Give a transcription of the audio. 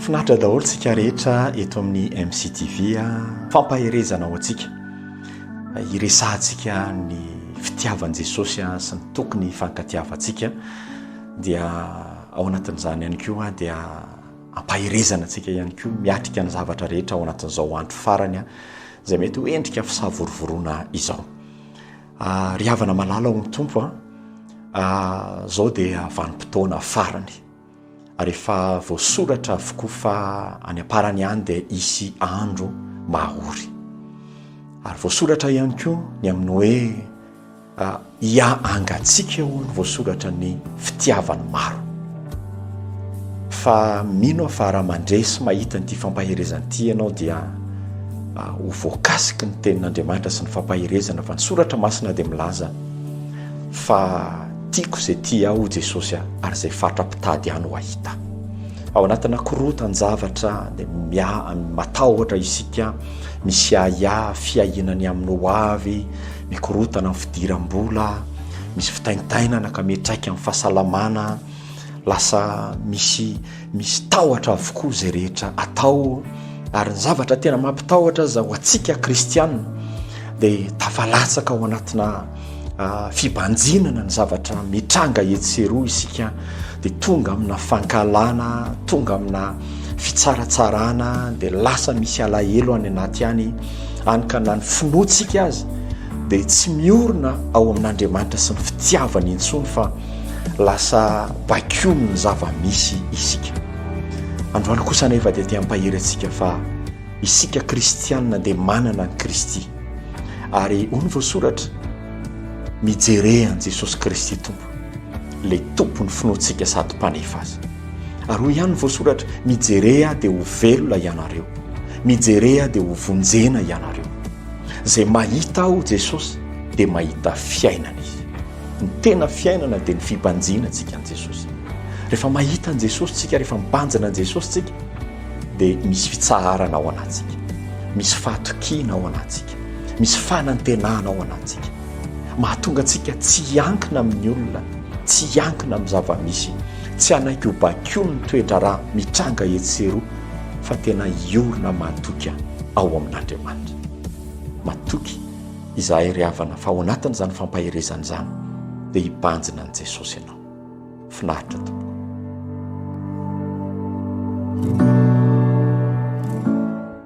Finaritra daholo tsika rehetra eto amin'ny MCTV a. Ah. Fampaherezana ho antsika. Iresahantsika ny fitiavan'i Jesosy a ah, sy ny tokony hifankatiavantsika. Dia ao anatin'izany ihany koa ah, dia ampaherezana antsika ihany koa miatrika ny zavatra rehetra ao anatin'izao andro farany a izay mety ho endrika fisavorovoroana izao. Ah, ry havana malala ao amin'ny Tompo a, ah, zao dia vanim-potoana farany, ary efa voasoratra avokoa fa any am-parany any dia hisy andro mahory. Ary voasoratra ihany koa ny amin'ny hoe ah, hiahangatsika hono voasoratra ny fitiavan'ny maro. Fa mino aho fa raha mandre sy mahita an'ity fampaherezana ity ianao dia ho voakasiky ny tenin'Andriamanitra sy ny fampaherezana fa ny soratra masina dia milaza fa tiako izay tia ahy hoy Jesosy a ary izay fatra mpitady ahy no hahita ahy. Ao anatina korontan-javatra dia mia- matahotra isika, misy ahiahy, fiahiana ny amin'ny hoavy, Mikorontana ny fidiram-bola, misy fitaintainana ka miantraika amin'ny fahasalamana, lasa misy misy tahotra avokoa izay rehetra atao ary ny zavatra tena mampitahotra aza ho antsika kristianina dia tafalatsaka ao anatina ah, fibanjinana ny zavatra mitranga etsy sy eroa isika dia tonga amina fankahalana, tonga amina fitsaratsarana, dia lasa misy alahelo any anaty any, any ka na ny finoantsika azy dia tsy miorina ao amin'Andriamanitra sy ny fitiavany intsony fa lasa bakiony ny zava-misy isika. Androany kosa anefa dia te-hampahery antsika fa isika kristianina dia manana ny Kristy. Ary hoy ny voasoratra, mijerehan'i Jesosy Kristy Tompo. Ilay Tompon'ny finoantsika sady Mpanefa azy. Ary hoy ihany ny voasoratra, Mijere ahy dia ho velona ianareo. Mijere ahy dia ho vonjena ianareo. Izay mahita ahy, hoy Jesosy, dia mahita fiainana izy. Ny tena fiainana dia ny fibanjina antsika an'i Jesosy. Rehefa mahita an'i Jesosy isika, rehefa mibanjina an'i Jesosy isika, dia misy fitsaharana ao anatintsika. Misy fahatokiana ao anatintsika. antsika. Misy fanantenana ao anatintsika mahatonga antsika tsy hiankina amin'ny olona, tsy hiankina amin'ny zava-misy, tsy hanaiky ho bakion'ny toedraharaha mitranga etsy sy eroa fa tena hiorina matoky ao amin'Andriamanitra. Matoky izahay ry havana fa ao anatin'izany fampaherezana izany dia hibanjina an'i Jesosy ianao. Finaritra tompoko.